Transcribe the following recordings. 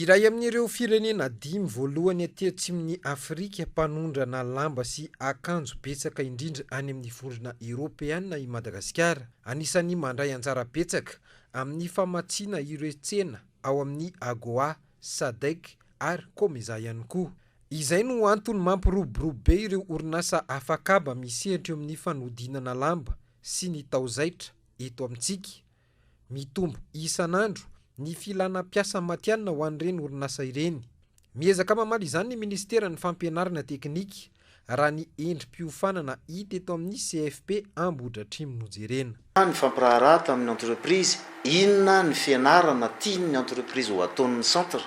Iray amin'ireo firenena dimy voalohany aty atsimon'i Afrika mpanondrana lamba sy akanjo betsaka indrindra any amin'ny Vondrona Eoropeana i Madagasikara. Anisan'ny mandray anjara betsaka amin'ny famatsiana ireo tsena ao amin'ny Agoa, Sadec ary Comesa ihany koa. Izay no antony mampiroborobo be ireo orinasa afakaba misehatra eo amin'ny fanodinana lamba sy ny taozaitra eto amintsika. Mitombo isan'andro ny filana mpiasa matihanina ho an'ireny orinasa ireny. Miezaka mamaly izany ny minisiteran'ny Fampianarana teknika, raha ny endri-piofanana hita eto amin'ny CFP Ambohidratrimo no jerena. Nifampiraharaha tamin'ny entreprise inona ny fianarana tian'ny entreprise ho ataon'ny centre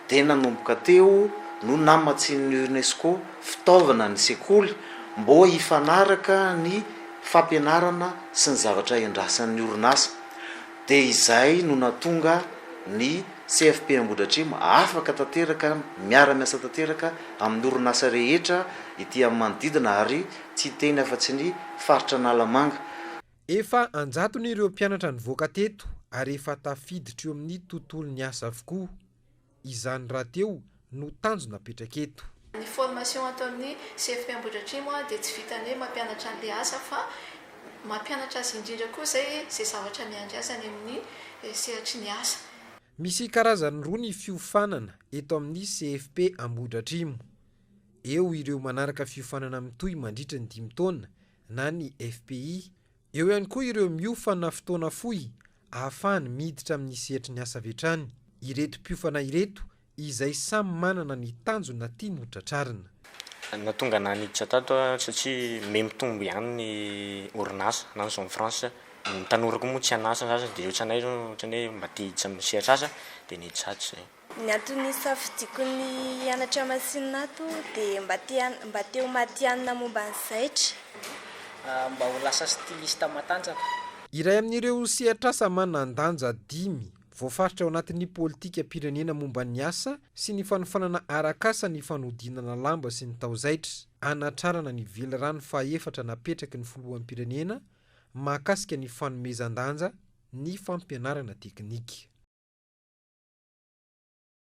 dia nanomboka teo no namatsian'ny UNESCO fitaovana ny sekoly mbô hifanaraka ny fampianarana sy ny zavatra endrasan'ny orinasa dia izay no natonga ny CFP Ambohidratrimo afaka tanteraka miara miasa tanteraka amin'ny orinasa rehetra ety amin'ny manodidina ary tsy hiteny afa tsy ny faritra Analamanga. Efa an-jatony ireo mpianatra nivoaka teto ary efa tafiditra eo amin'ny tontolon'ny asa avokoa. Izany rahateo no tanjona apetraka eto. Ny formation ataon'ny CFP Ambohidratrimo dia tsy vitan'ny hoe mampianatra an'ilay asa fa mampianatra azy indrindra koa izay izay zavatra miandry azy any amin'ny sehatry ny asa. Misy karazany roa ny fiofanana eto amin'ny CFP Ambohidratrimo. Eo ireo manaraka fiofanana mitohy mandritry ny dimy taona na ny FPI. Eo ihany koa ireo miofana fotoana fohy ahafahany miditra amin'ny sehatry ny asa avy hatrany ireto mpiofana ireto izay samy manana ny tanjona tiany ho tratrarina. Nahatonga anah niditra tato aho satria mey mitombo ihany ny orinasa na ny zone franche. Ny tanora koa moa tsy an'asa sasany dia ohatranay izao ohatran'ny hoe mba te hiditra amin'ny sehatr'asa dia niditra ato izay. Ny antony nisafidiako ny hianatra masinina ato dia mba te mba te ho matihanina momba ny zaitra. Mba ho lasa styliste matanjaka. Iray amin'ireo sehatr'asa manan-danja dimy voafaritra ao anatin'ny politikam-pirenena momba ny asa sy ny fanofanana arak'asa ny fanodinana lamba sy ny taozaitra, hanatrarana ny velirano fahefatra napetraky ny filoham-pirenena mahakasika ny fanomezan-danja ny fampianarana teknika.